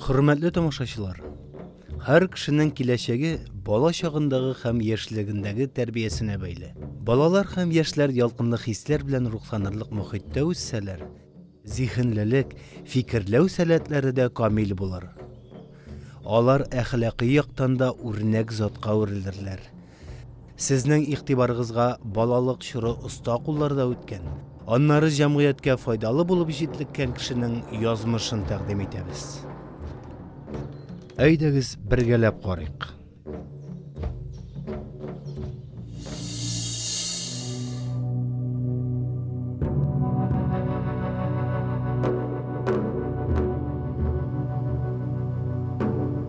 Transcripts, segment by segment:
Хөрмәтле тамашачылар, һәр кешенең киләчәге бала чагындагы һәм яшьлегендәге тәрбиясенә бәйле. Балалар һәм яшьләр ялкынлы хисләр белән рухланырлык мөхиттә үссәләр, зиһенлелек, фикерләү сәләтләре дә камил булыр. Алар әхлакый яктан да үрнәк затка үрелерләр, Сезнең игътибарыгызга балалык чоры оста кулларда үткән, аннары җәмгыятькә файдалы булып җитлеккән кешенең язмышын тәкъдим итәбез. Әйдәгез бергәләп карыйк.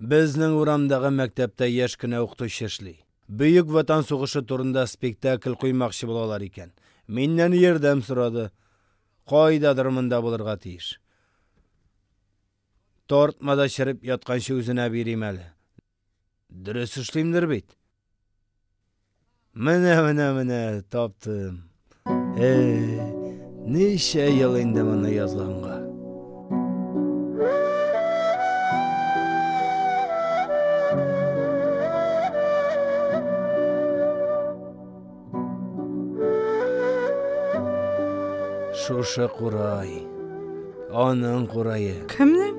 Безнең урамдагы мәктәптә яшь кенә укытучы эшли. Бөек Ватан сугышы турында спектакль куймакчы булалар икән. Миннән ярдәм сорады. Кайдадыр монда булырга тиеш. Тартмада череп ятканчы үзенә бирим әле. Дөрес эшлимдер бит? Менә, менә, менә, таптым. Эй, ничә ел инде моны язганга. Шушы курай. Аның курае. Кемнең?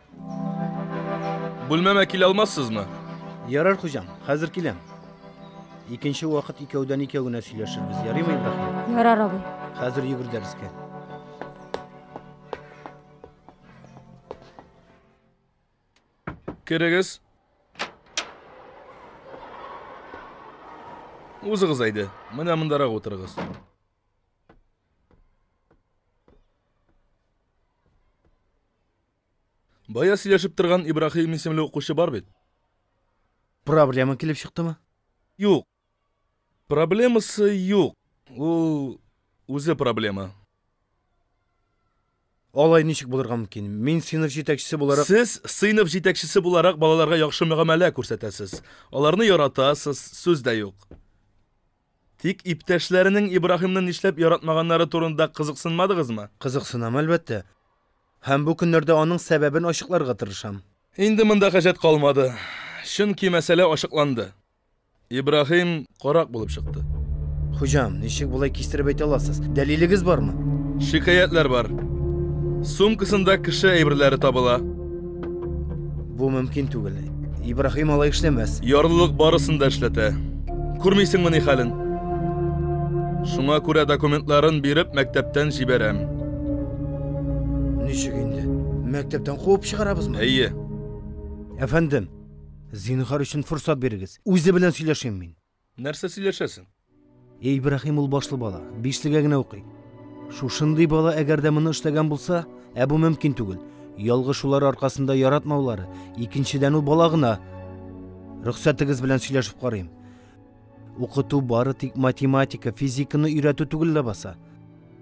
Бүлмәмә килә алмассызмы? Ярар, хуҗам, хәзер киләм. Икенче вакыт икәүдән икәү генә сөйләшербез, ярыймы, Ибраһим? Ярар, абый. Хәзер йөгер дәрескә. Керегез. Узыгыз әйде, менә мондарак утырыгыз. Бая сөйләшеп торган Ибрахим исемле укучы бар бит. Проблема килеп чыктымы? Юк. Проблемасы юк. Ул үзе проблема. Алай ничек булырга мөмкин? Мин сыйныф җитәкчесе буларак Сез сыйныф җитәкчесе буларак балаларга яхшы мөгамәлә күрсәтәсез. Аларны яратасыз, сүз дә юк. Тик иптәшләренең Ибраһимны нишләп яратмаганнары турында кызыксынмадыгызмы? Кызыксынам, әлбәттә. Һәм бу көннәрдә аның сәбәбен ачыкларга тырышам. Инде монда хаҗәт калмады, чөнки мәсьәлә ачыкланды. Ибраһим корак булып чыкты. Хуҗам, ничек болай кистереп әйтә аласыз? Дәлилегез бармы? Шикаятьләр бар. Сумкасында кеше әйберләре табыла. Бу мөмкин түгел. Ибрахим алай эшләмәс. Ярлылык барысын да эшләтә. Күрмисеңме ни хәлен? Шуңа күрә документларын биреп мәктәптән җибәрәм. Ничек инде? Мәктәптән куып чыгарабызмы? Әйе. Әфәндем, зинһар өчен форсат бирегез. Үзе белән сөйләшим мин. Нәрсә сөйләшәсең? Эй, Ибраһим ул башлы бала, бишлегә генә укый. Шушындый бала әгәр дә моны эшләгән булса, ә бу мөмкин түгел. Ялгы шулар аркасында яратмаулары, икенчедән ул бала гына. Рөхсәтегез белән сөйләшеп карыйм. Укыту бары тик математика, физиканы өйрәтү түгел ләбаса.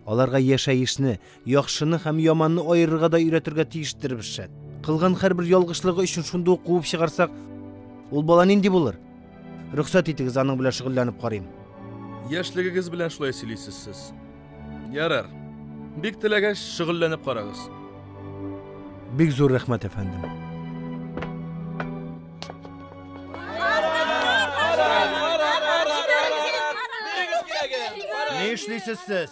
Аларга яшәешне, Яхшыны һәм яманны аерырга да өйрәтергә тиештер шәт. Кылган һәрбер ялгышлыгы өчен шундый ук куып чыгарсак, ул бала нинди булыр? Рөхсәт итегез, аның белән шөгыльләнеп карыйм. Яшьлегегез белән шулай сөйлисез сез. Ярар. Бик теләгәч, шөгыльләнеп карагыз. Бик зур рәхмәт, әфәндем. Ни эшлисез сез?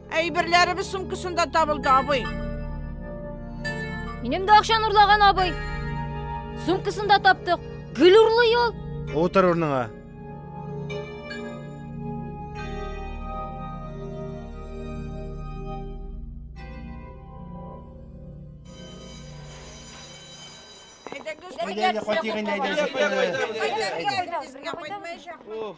Әйберләребез сумкасында табылды, абый. Минем дә акчаны урлаган абый. Сумкасында таптык. Гөл урлый ул. Утыр урныңа. Әйдәгез, кайтыйк инде, әйдәгез. Әйдәгез, әйдәгез. Уф.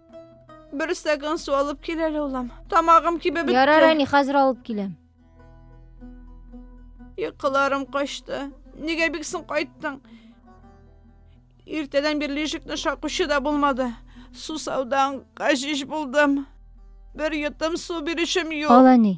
Бер стакан су алып кил әле, улым. Тамагым кибеп бетте. Ярар, әни, хәзер алып киләм. Йокыларым качты. Нигә бик соң кайттың? Иртәдән бирле ишекне шакучы да булмады. Сусаудан гажиш булдым. Бер йотым су бирүчем юк. Ал, әни.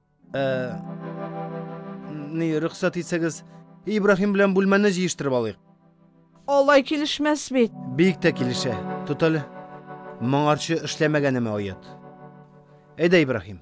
Ә, ни, рөхсәт итсәгез, Ибраһим белән бүлмәне җыештырып алыйк. Алай килешмәс бит. Бик тә килешә. Тот әле. Моңарчы эшләмәгәнеме оят. Әйдә, Ибраһим.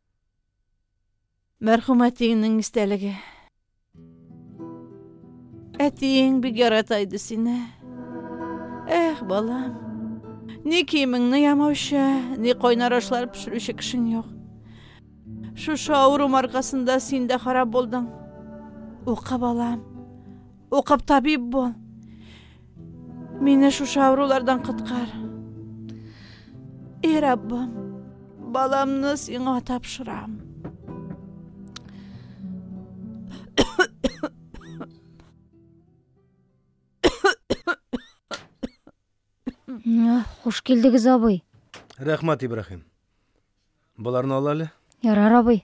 Мәрхүм әтиеңнең истәлеге. Әтиең бик ярата иде сине. Эх, балам. Ни киемеңне ямаучы, ни кайнар ашлар пешерүче кешең юк. Шушы авырум аркасында син дә харап булдың. Укы, балам. Укып табиб бул. Мине шушы авырулардан коткар. Эй, Раббым, баламны сиңа тапшырам. Хуш килдегез, абый. Рәхмәт, Ибраһим. Боларны ал әле. Ярар, абый.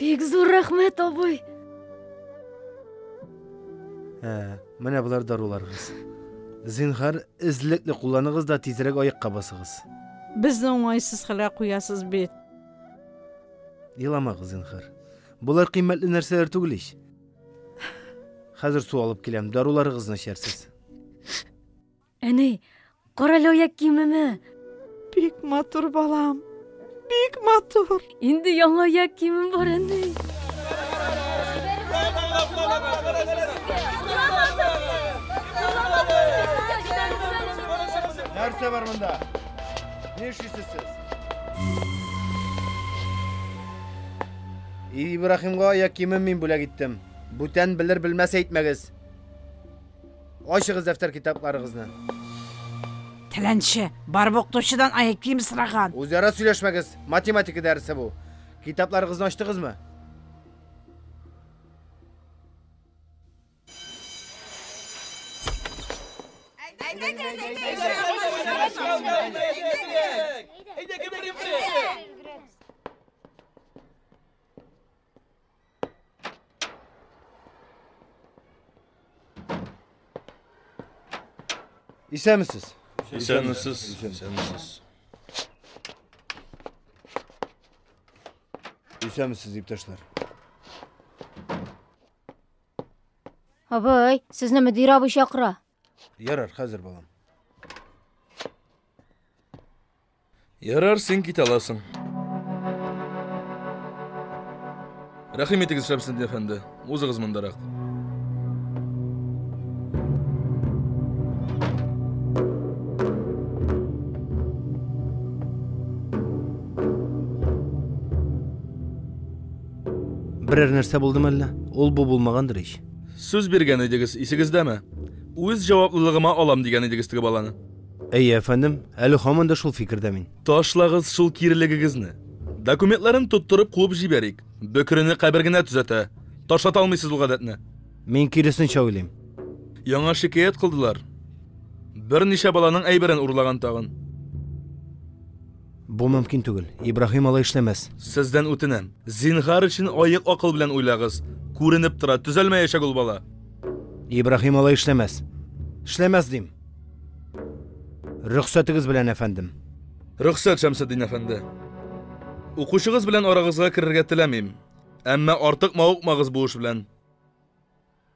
Бик зур рәхмәт, абый. Ә, менә болар даруларыгыз. Зинхар, эзлекле кулланыгыз да тизрәк аякка басыгыз. Безне уңайсыз хәлгә куясыз бит. Еламагыз, зинхар. Болар кыйммәтле нәрсәләр түгел ич. Хәзер су алып киләм, даруларыгызны эчәрсез. Әни, карале аяк киемеме? Бик матур балам. Бик матур. Инде яңа аяк киемем бар, әни. Нәрсә бар монда? Ни эшлисез сез? Ибраһимга аяк киемен мин бүләк иттем. Бүтән белер-белмәс әйтмәгез. Ачыгыз дәфтәр-китапларыгызны. Теләнче, барып укытучыдан аяк киеме сораган. Үзара сөйләшмәгез, математика дәресе бу. Китапларыгызны ачтыгызмы? Исәнмесез. Исәнмесез. Исәнмесез. Исәнмесез, иптәшләр. Абый, сезне мөдир абый чакыра. Ярар, хәзер балам. Ярар, син кит аласың. Рәхим итегез, Шәмсендин әфәнде. Узыгыз мондарак. Берәр нәрсә булдымы әллә? Ул бу булмагандыр ич. Сүз биргән идегез, исегездәме? Үз җаваплылыгыма алам дигән идегез теге баланы. Әйе, әфәндем, әле һаман да шул фикердә мин. Ташлагыз шул кирелегегезне. Документларын тоттырып куып җибәрик. Бөкрене кабер генә төзәтә. Ташлата алмыйсыз ул гадәтне. Мин киресенчә уйлыйм. Яңа шикаять кылдылар. Берничә баланың әйберен урлаган тагын. Бу мөмкин түгел. Ибраһим алай эшләмәс. Сездән үтенәм, зинһар өчен аек акыл белән уйлагыз. Күренеп тора, төзәлмәячәк ул бала. Ибраһим алай эшләмәс. Эшләмәс дим. Рөхсәтегез белән, әфәндем. Рөхсәт, Шәмсетдин әфәнде. Укучыгыз белән арагызга керергә теләмим. Әмма артык мавыкмагыз бу эш белән.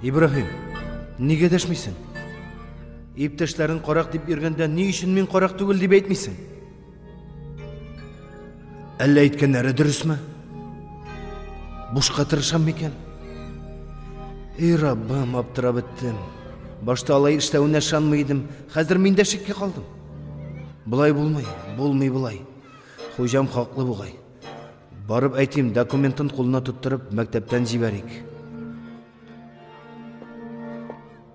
Ибраһим, нигә дәшмисең? Иптәшләрен карак дип йөргәндә, ни өчен мин карак түгел дип әйтмисең? Әллә әйткәннәре дөресме? Бушка тырышам микән? Эй, Раббым, аптырап беттем. Башта алай эшләвенә ышанмый идем, хәзер мин дә шиккә калдым. Болай булмый, булмый болай. Хуҗам хаклы бугай. Барып әйтим, документын кулына тоттырып, мәктәптән җибәрик.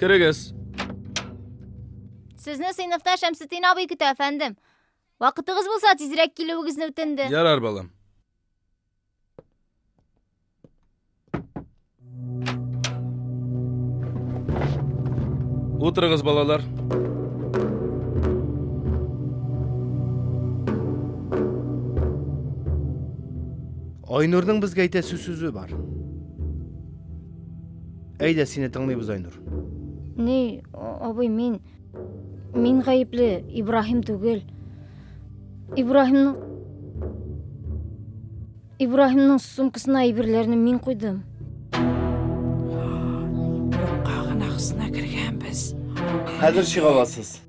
Керегез. Сезне сыйныфта Шәмсетдин абый көтә, әфәндем. Вакытыгыз булса, тизрәк килүегезне үтенде. Ярар, балам. Утырыгыз, балалар. Айнурның безгә әйтәсе сүзе бар. Әйдә, сине тыңлыйбыз, Айнур. Ни, абый, мин мин гаепле, Ибраһим түгел. Ибраһимның Ибраһимның сумкасына әйберләрне мин куйдым. Юкка гына хысына кергәнбез. Хәзер чыга аласыз.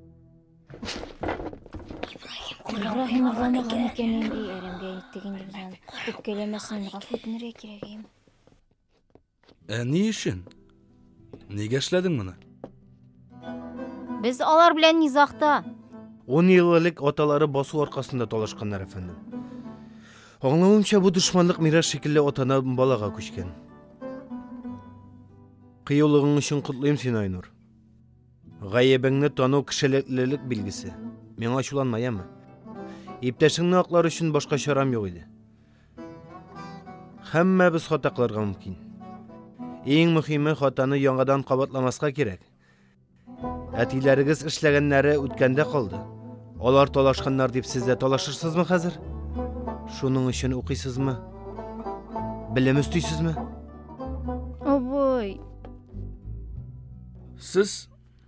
Ибраһим угламаган икән инде, әрәмгә әйтте инде безне. Үпкәләмәсен, гафу үтенергә кирәк инде. Ә ни өчен? Нигә эшләдең моны? Без алар белән низахта. Ун ел элек аталары басу аркасында талашканнар, әфәндем. Аңлавымча, бу дошманлык мирас шикелле атадан балага күчкән. Кыюлыгың өчен котлыйм син, Айнур. Гаебеңне тану кешелеклелек билгесе. Миңа ачуланма, яме. Иптәшеңне аклар өчен башка чарам юк иде. Һәммәбез хата кылырга мөмкин. Иң мөһиме хатаны яңадан кабатламаска кирәк. Әтиләрегез эшләгәннәре үткәндә калды. Алар талашканнар дип сез дә талашырсызмы хәзер? Шуның өчен укыйсызмы? Белем өстисезме? Абый. Сез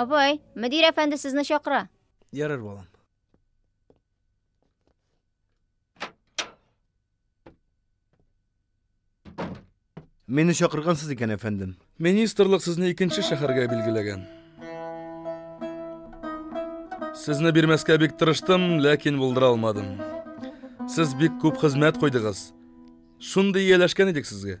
Апай, мөдир әфәнде сезне чакыра. Ярар, балам. Мине чакыргансыз икән, әфәндем. Министрлык сезне икенче шәһәргә билгеләгән. Сезне бирмәскә бик тырыштым, ләкин булдыра алмадым. Сез бик күп хезмәт куйдыгыз. Шундый ияләшкән идек сезгә.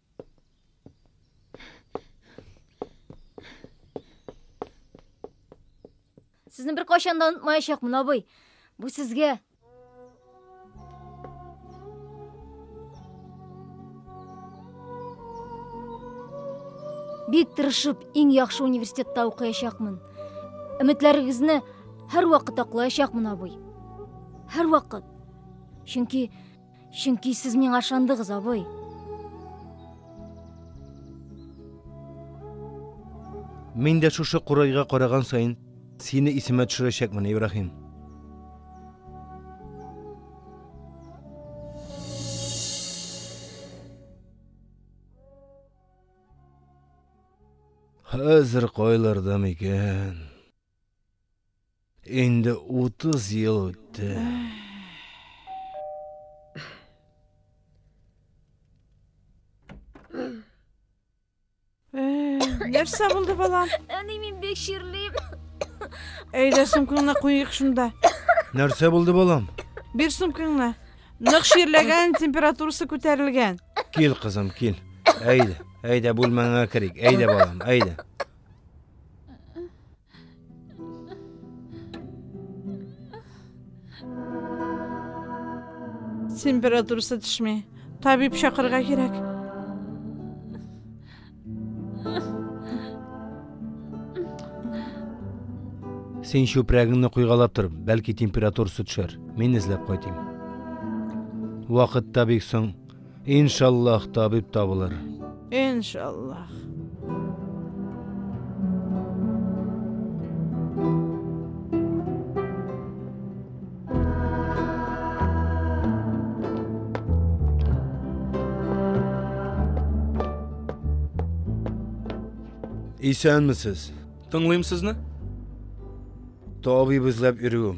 Сезне бер кайчан да онытмаячакмын, абый. Бу сезгә. Бик тырышып, иң яхшы университетта укыячакмын. Өметләрегезне һәрвакыт аклаячакмын, абый. Һәрвакыт. Чөнки Чөнки сез миңа ышандыгыз, абый. Мин дә шушы курайга караган саен сине исемә төшерәчәкмен, Ибраһим. Хәзер кайларда микән? Инде утыз ел үтте. Нәрсә булды, балам? Әни, мин бик ширлим. Әйдә, сумкаңны куйыйк шунда. Нәрсә булды, балам? Бир сумкаңны. Нык ширләгән, температурасы күтәрелгән. Кил, кызым, кил. Әйдә, әйдә, бүлмәңә керик. Әйдә, балам, әйдә. Температурасы төшми. Табиб чакырга кирәк. Син чүпрәгеңне куйгалап тор, бәлки температурасы төшәр. Мин эзләп кайтыйм. Вакыт та бик соң. Иншаллах табиб табылыр. Иншаллах. Исәнмесез. Тыңлыйм сезне. Табиб эзләп йөрүем.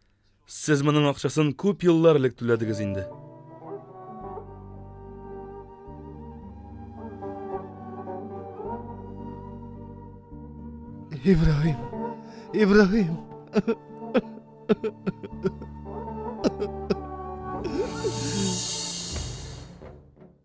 Сез моның акчасын күп еллар элек түләдегез инде. Ибраһим. Ибраһим.